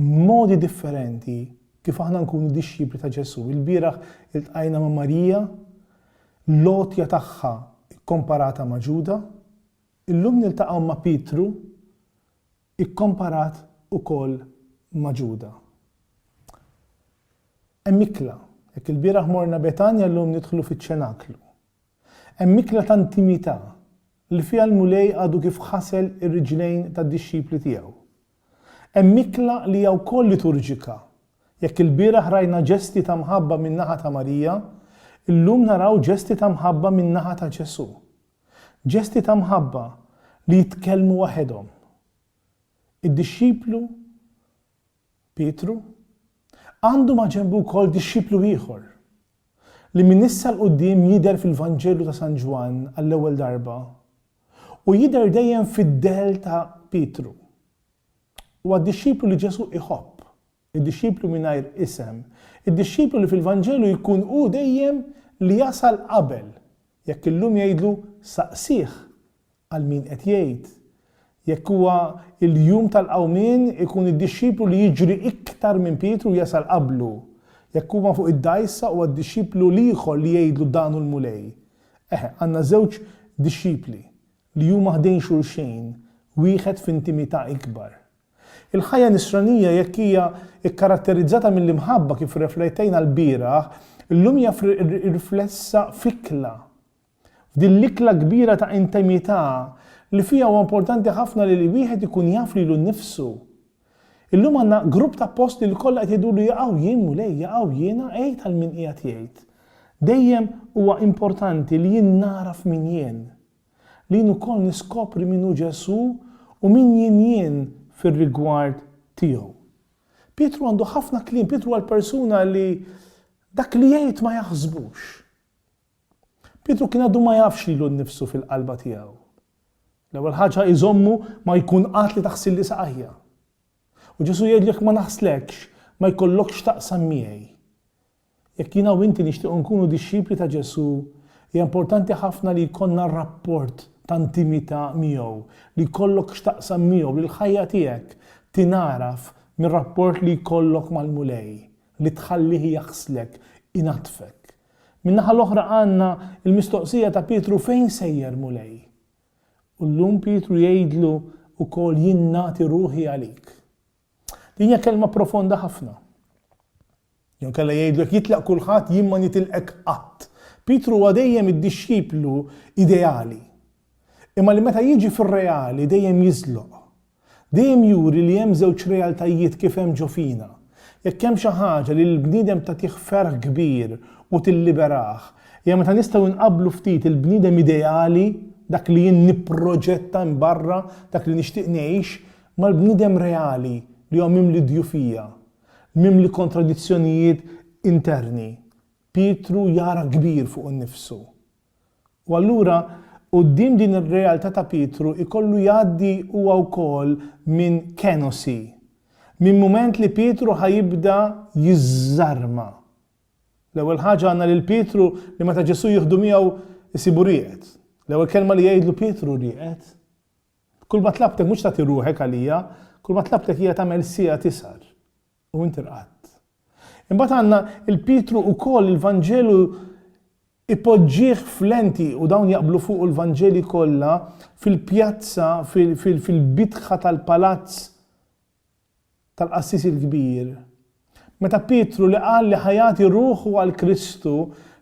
Modi differenti kif aħna nkunu dixxipli ta' Ġesù. Ilbieraħ iltqajna ma' Marija, l-għotja tagħha kkomparata ma' Ġuda. Illum niltaqgħu ma' Pietru, ikkomparat ukoll ma' Ġuda. Hemm ikla. Jekk ilbieraħ morna Betanja, llum nidħlu fiċ-ċenaklu. Hemm ikla ta' intimità, li fiha l-Mulej għadu kif ħasel ir-riġlejn tad-dixxipli tiegħu. Hemm ikla li hija wkoll liturġika. Jekk ilbieraħ rajna ġesti ta' mħabba min-naħa ta' Marija, illum naraw ġesti ta' mħabba min-naħa ta' Ġesù. Ġesti ta' mħabba li jitkellmu waħedhom. Id-dixxiplu Pietru għandu maġenbu wkoll dixxiplu ieħor, li minn issa 'l quddiem jidher fil-Vanġelu ta' San Ġwann għall-ewwel darba, u jidher dejjem fid-dell ta' Pietru. Huwa d-dixxiplu li Ġesù iħobb, id-dixxiplu mingħajr isem, id-dixxiplu li fil-Vanġelu jkun hu dejjem li jasal qabel, jekk illum jgħidlu saqsih għal min qed jgħid, jekk huwa l-jum tal-qawmien ikun id-dixxiplu li jiġri iktar minn Pietru u jasal qablu, jekk huma fuq id-dgħajsa huwa d-dixxiplu l-ieħor li jgħidlu dan hu l-Mulej, Eħe, għandna żewġ dixxipli li huma ħdejn xulxejn, wieħed f'intimità ikbar. Il-ħajja Nisranija, jekk hija kkaratterizzata mill-imħabba kif rreflettejna lbieraħ, illum hija riflessa f'ikla. F'din l-ikla kbira ta' intimità li fiha huwa importanti ħafna li wieħed ikun jaf lilu nnifsu. Illum għandna grupp ta' appostli li kollha qed jgħidulu jaqaw jien Mulej, jaqaw jiena għid għal min qiegħed jgħid. Dejjem huwa importanti li jien nagħraf min jien. Li jien ukoll niskopri min hu Ġesù u min jien jien fir-rigward tiegħu. Pietru għandu ħafna kliem, Pietru huwa l-persuna li dak li jgħid ma jaħsbux. Pietru kien għadu ma jafx lilu nnifsu fil-qalba tiegħu. L-ewwel ħaġa hi żommu ma jkun qatt li taħsilli saqajja. U Ġesù jgħidlu jekk ma naħslekx, ma jkollokx x'taqsam miegħi. Jekk jiena u inti nixtiequ nkunu dixxipli ta' Ġesù, hija importanti ħafna li jkollna rapport ta' intimità miegħu, li jkollok x'taqsam miegħu, li l-ħajja tiegħek tingħaraf mir-rapport li jkollok mal-Mulej, li tħallih jaħslek, inaddfek, Min-naħa l-oħra għandna l-mistoqsija ta' Pietru fejn sejjer Mulej? U llum Pietru jgħidlu wkoll jien nagħti ruħi għalik. Din hija kelma profonda ħafna. Jew kella jgħidlu jekk jitlaq kulħadd jien ma nitilqek qatt. Pietru huwa dejjem id-dixxiplu ideali. Imma li meta jiġi fir-reali dejjem jiżloq. Dejjem juri li hemm żewġ realtajiet kif hemm ġo fina. Jekk hemm xi ħaġa li lill-bniedem tagħtih ferħ kbir u tilliberah, hija meta nistgħu nqabblu ftit il-bniedem ideali, dak li jien nipproġetta hemm barra, dak li nixtieq ngħix, mal-bniedem reali li huwa mimli djufija, mimli kontradizzjonijiet interni. Pietru jara kbir fuq innifsu. U allura quddiem din ir-realtà ta' Pietru jkollu jgħaddi huwa wkoll minn kenosi, minn mument li Pietru ħa jibda jiżżarma. L-ewwel ħaġa għandna lil Pietru li meta Ġesù jieħdu miegħu jsibu rieqed. L-ewwel kelma li jgħidlu Pietru rieqed. Kulma tlabtek mhux tagħti ruħek għalija, kulma tlabtek hija tagħmel siegħa tisgħar. U inti rqadt. Imbagħad għandna il-Pietru ukoll il-Vanġelu ipoġġih f'lenti u dawn jaqblu fuqu l-Vanġeli kollha fil-pjazza fil-bitħa tal-palazz tal-qassis il-kbir. Meta Pietru li qal li ħa jagħti ruħu għal Kristu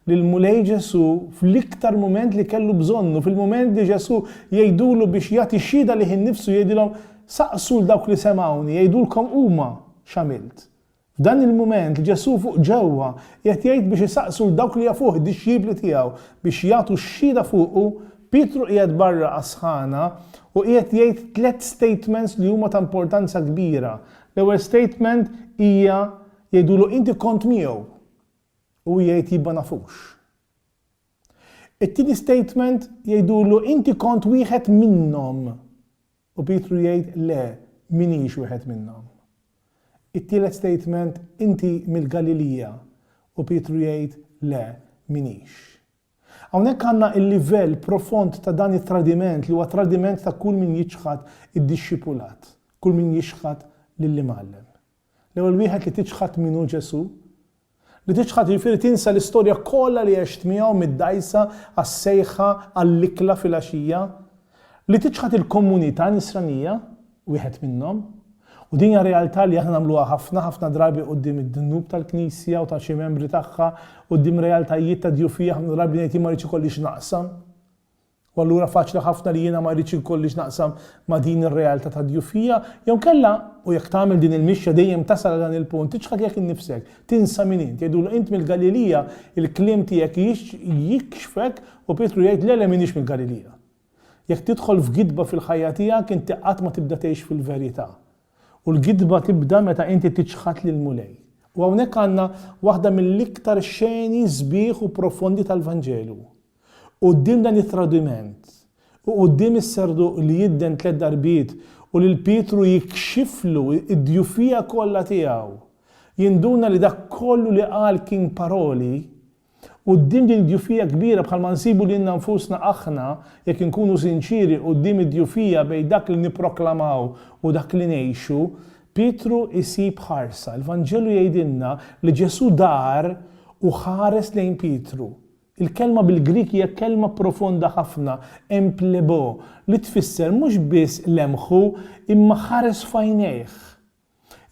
lill-Mulej Ġesù fl-iktar mument li kellu bżonnu, fil-mument li Ġesù jgħidulu biex jagħti xhieda lih innifsu jgħidilhom, Saqsu 'l dawk li semgħuni jgħidulkom huma x'għamilt. F'dan il-mument Ġesù fuq ġewwa qiegħed jgħid biex isaqsu 'l dawk li jafuh id-dixxipli tiegħu biex jagħtu xhieda fuqu, Pietru qiegħed barra għas-sħana u qiegħed jgħid tliet statements li huma ta' importanza kbira. L-ewwel statement hija jgħidulu inti kont miegħu. u jgħid jibba nafux. It-tieni statement jgħidulu inti kont wieħed minnhom u Pietru jgħid le minix wieħed minnhom. It-tielet statement inti mill-Galilija u Pietru jgħid le minix. Hawnhekk għandna il-livell profond ta' dan it-tradiment li huwa tradiment ta' kull min jiċħad id-dixxipulat, kull min jixħad lill-imgħallem. L-ewwel wieħed li tiċħad min hu Ġesù. Li tiċħad jiġifieri tinsa l-istorja kollha li għext miegħu mid-dgħajsa għas-sejħa għall-ikla filgħaxija. Li tiċħad il-komunità Nisranija, wieħed minnhom. U din hija realtà li aħna nagħmluha ħafna, ħafna drabi quddiem id-dnub tal-Knisja u ta' xi membri tagħha, quddiem realtajiet ta' djufija ħafna drabi ngħid jien ma rridx ikollix naqsam. U allura faċli ħafna li jiena ma rridx inkolli x'naqsam ma' din ir-realtà ta' djufija. Jew inkella, u jekk tagħmel din il-mixja dejjem tasal għal dan il-punt, tiċħad lilek innifsek, tinsa min int. Jgħidulu, Int mill-Galilija, il-kliem tiegħek jikxfek u Pietru jgħid, Le, le m'iniex mill-Galilija. Jekk tidħol f'gidba fil-ħajja tiegħek, inti qatt ma tibda tgħix fil-verità. U l-gidba tibda meta inti tiċħad lill-Mulej. U hawnhekk għandna waħda mill-iktar xeni sbieħ u profondi tal-Vanġelu. Quddiem dan it-tradiment, u quddiem is-serduq li jidden tliet darbiet u lil Pietru jikxiflu d-djufija kollha tiegħu, jinduna li dak kollu li qal kien paroli, quddiem din id-djufija kbira bħalma nsibu lilna nfusna aħna jekk inkunu sinċieri quddiem id-djufija bejn dak li nipproklamaw u dak li ngħixu, Pietru jsib ħarsa. Il-Vanġelu jgħidilna li Ġesù dar u ħares lejn Pietru. Il-kelma bil-Grieg hija kelma profonda ħafna, em phlebo, li tfisser mhux biss lemħu, imma ħares f'għajnejh.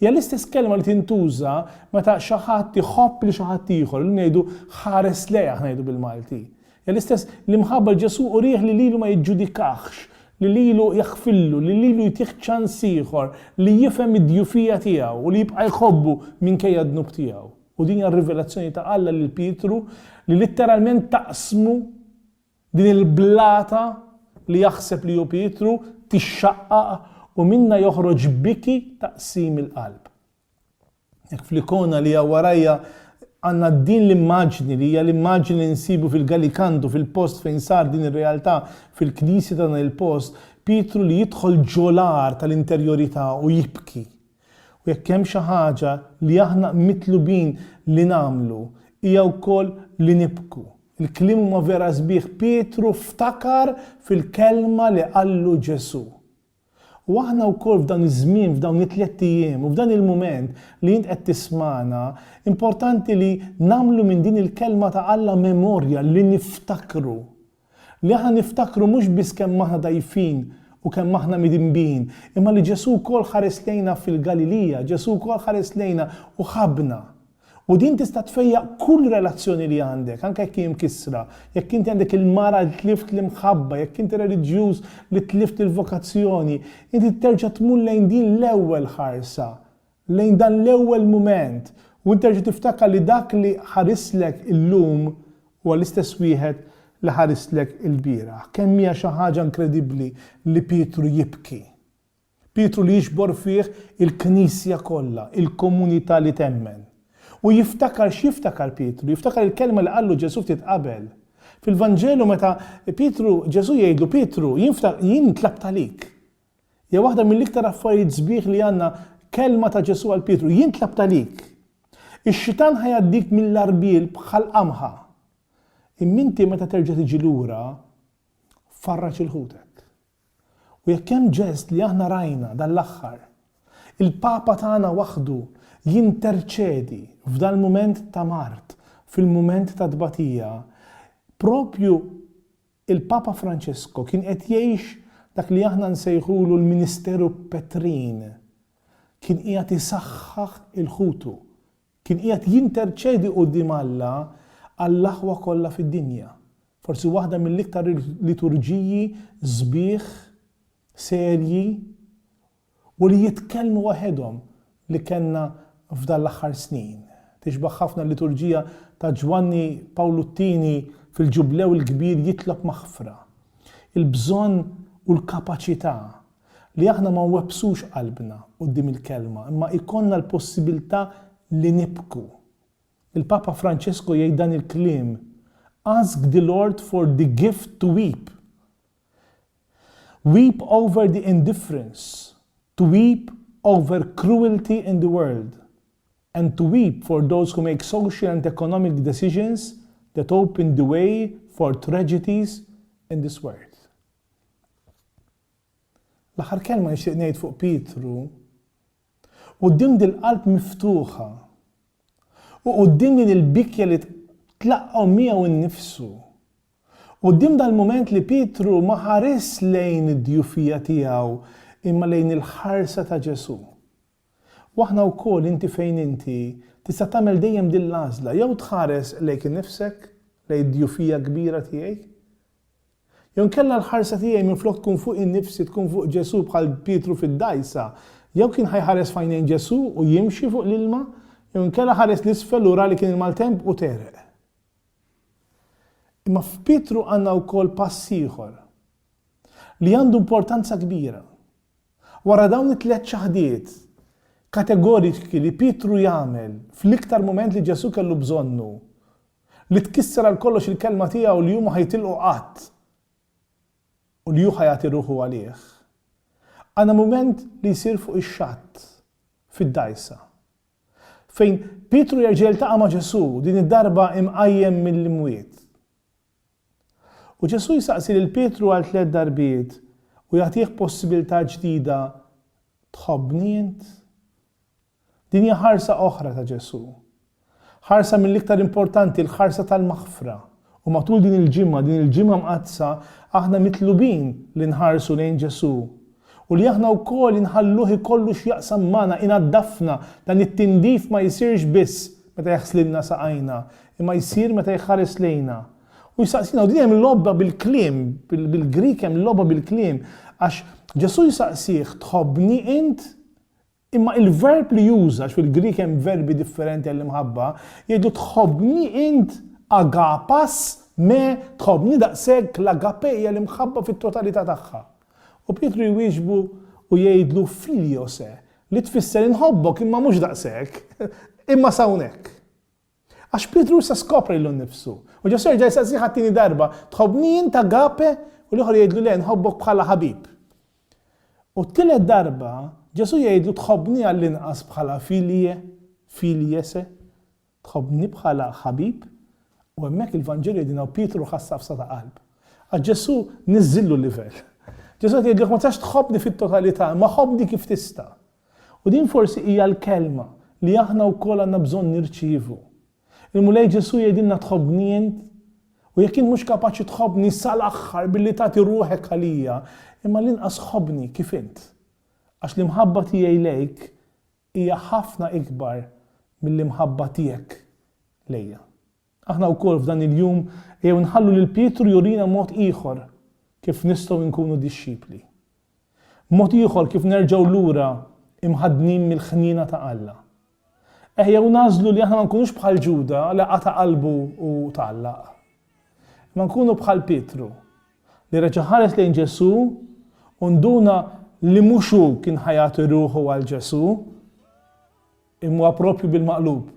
Hija l-istess kelma li tintuża meta xi ħadd iħobb lil xi ħadd ieħor, illum ngħidu ħares lejh, aħna ngħidu bil-Malti. Hija l-istess l-imħabba li Ġesù urih li lilu ma jiġġudikahx, li lilu jaħfillu, li lilu jtih ċans ieħor, li jifhem id-djufija tiegħu u li jibqa' jħobbu minkejja d-dnub tiegħu. U din hija r-rivelazzjoni ta' Alla lil Pietru li litteralment taqsmu din il-blata li jaħseb li hu Pietru tixxaqqaq u minnha joħroġ biki ta' qsim il-qalb. Jekk fl-ikona li hija warajja għandna din l-immaġni li hija l-immaġni li nsibu fil-Galikandu fil-post fejn sar din ir-realtà fil-knisja ta' dan il-post, Pietru li jidħol ġolar tal-interjorità u jibki. U jekk hemm xi ħaġa li aħna mitlubin li nagħmlu hija wkoll li nibku. Il-kliem huma vera sbieħ, Pietru ftakar fil-kelma li qallu Ġesù. U aħna wkoll f'dan iż-żmien, f'dawn it-tliet ijiem u f'dan il-mument li int qed tismagħna, importanti li nagħmlu minn din il-kelma ta' Alla memorja li niftakru. Li aħna niftakru mhux biss kemm aħna dgħajfin u kemm aħna midinbin, imma li Ġesù wkoll ħares lejna fil-Galilija, Ġesù wkoll ħares lejna u ħabbna. U din tista' tfejjaq kull relazzjoni li għandek, anke jekk hi mkissra, jekk inti għandek il-mara li tlift l-imħabba, jekk inti reliġjuż li tlift il-vokazzjoni, inti terġa' tmur lejn din l-ewwel ħarsa lejn dan l-ewwel mument u int terġa' tiftakar li dak li ħarislek illum huwa l-istess wieħed li ħarislek ilbieraħ. Kemm hija xi ħaġa inkredibbli li Pietru jibki! Pietru li jiġbor fih il-Knisja kollha, il-komunità li temmen. U jiftakar x'jiftakar Pietru? Jiftakar il-kelma li qallu Ġesù ftit qabel. Fil-Vanġelu meta Pietru, Ġesù jgħidlu, Pietru, jien tlabt għalik. Hija waħda mill-iktar affarijiet sbieħ li għandna, kelma ta' Ġesù għal Pietru, jien tlabt għalik. Ix-xitan ħa jgħaddik mill-għarbiel bħal qamħa. Imma inti meta terġa' tiġi lura, farraġ il-ħutek. U jekk hemm ġest li aħna rajna dan l-aħħar, il-Papa tagħna waħdu jinterċedi f'dal mument ta' mard, fil-mument ta' tbatija, propju Il-Papa Franċisku kien qed jgħix dak li aħna nsejħulu l-ministeru petrin. Kien qiegħed isaħħaħ il-ħutu. Kien qiegħed jinterċedi quddiem Alla għall-aħwa kollha fid-dinja. Forsi waħda mill-iktar liturġiji sbieħ, serji, u li jitkellmu waħedhom li kellna f'dan l-aħħar snin. Tixbah ħafna l-liturġija ta' Ġwanni Pawlu t-Tieni fil-Ġublew il-Kbir jitlob maħfra. Il-bżonn u l-kapaċità li aħna ma nwebbsux qalbna quddiem il-Kelma imma jkollna l-possibilità li nibku. Il-Papa Franċesku jgħid dan il-kliem, Ask the Lord for the gift to weep. Weep over the indifference, to weep over cruelty in the world, and to weep for those who make social and economic decisions that open the way for tragedies in this world. L-aħħar kelma nixtieq ngħid fuq Pietru, quddiem dil-qalb miftuħa u quddiem din il-bikja li tlaqqgħu miegħu nnifsu, Quddiem dal-mument li Pietru ma ħarisx lejn id-djufija tiegħu imma lejn il-ħarsa ta' Ġesù. U aħna wkoll, inti fejn inti, tista' tagħmel dejjem din l-għażla, jew tħares lejk innifsek, lejn id-djufija kbira tiegħi. Jew inkella l-ħarsa tiegħi minflok tkun fuq innifsi tkun fuq Ġesù bħal Pietru fid-dgħajsa. Jew kien ħa jħares f'għajnejn Ġesù u jimxi fuq l-ilma, jew inkella ħares 'l isfel u ra li kien il-maltemp u tegħreq. Imma f'Pietru għandna wkoll pass ieħor li għandu importanza kbira. Wara dawn it-tliet ċaħdiet kategoriċki li Pietru jagħmel fl-iktar mument li Ġesù kellu bżonnu, li tkisser għal kollox il-kelma tiegħu li hu ma ħajtilqu qatt u li hu ħa jagħti ruħu għalih, għandna mument li jsir fuq ix-xatt, fid-dgħajsa. fejn Pietru jerġa' jiltaqa' ma' Ġesù, din id-darba imqajjem mill-imwiet. U Ġesù jsaqsi lil Pietru għal tliet darbiet u jagħtih possibilità ġdida, Tħobbni int? Din hija ħarsa oħra ta' Ġesù. Ħarsa mill-iktar importanti, l-ħarsa tal-maħfra. U matul din il-ġimgħa, din il-ġimgħa mqaddsa, aħna mitlubin li nħarsu lejn Ġesù u li aħna wkoll inħalluh ikollu x'jaqsam magħna, inaddafna, dan it-tindif ma jsirx biss meta jaħslilna saqajna, imma jsir meta jħares lejna u jsaqsina. U din hemm logħba bil-kliem, bil-Grieg hemm logħba bil-kliem, għax Ġesù jsaqsih, tħobbni int? Imma il-verb li juża, għax fil-Grieg hemm verbi differenti għall-imħabba, jgħidlu tħobbni int a ga pas me tħobbni daqshekk l-agape hija l-imħabba fit-totalità tagħha. U Pietru jwieġbu u jgħidlu filio se, li tfisser inħobbok imma mhux daqshekk, imma s'hawnhekk. Għax Pietru issa skopra lilu nnifsu. U Ġesù jerġa' jistaqsih għat-tieni darba, Tħobbni int agape? U l-ieħor jgħidlu, Le, nħobbok bħala ħabib. U t-tielet darba, Ġesù jgħidlu, Tħobbni għall-inqas bħala philie, philie se? Tħobbni bħala ħabib? U hemmhekk il-Vanġelu jgħidilna u Pietru ħass għafsa ta' qalb. Għax Ġesù niżżillu l-livell. Ġesù qed jgħidlu, Jekk ma tistax tħobbni fit-totalità, imma ħobbni kif tista'. U din forsi hija l-kelma li aħna wkoll għandna bżonn nirċievu. Il-Mulej Ġesù jgħidilna tħobbni int? U jekk int mhux kapaċi tħobbni sal-aħħar billi tagħti ruħek għalija, imma l-inqas ħobbni kif int. Għax l-imħabba tiegħi lejk hija ħafna ikbar mill-imħabba tiegħek lejja. Aħna wkoll f'dan il-jum ejjew nħallu lil Pietru jurina mod ieħor kif nistgħu nkunu dixxipli. Mod ieħor kif nerġgħu lura imħaddnin mill-ħniena ta' Alla. Eħjew nagħżlu li aħna ma nkunux bħal Ġuda li qata' qalbu u tgħallaq. Imma nkunu bħal Pietru li reġa' ħares lejn Ġesù u nduna li mhux hu kien ħa jagħti ruħu għal Ġesù, imma proprju bil-maqlub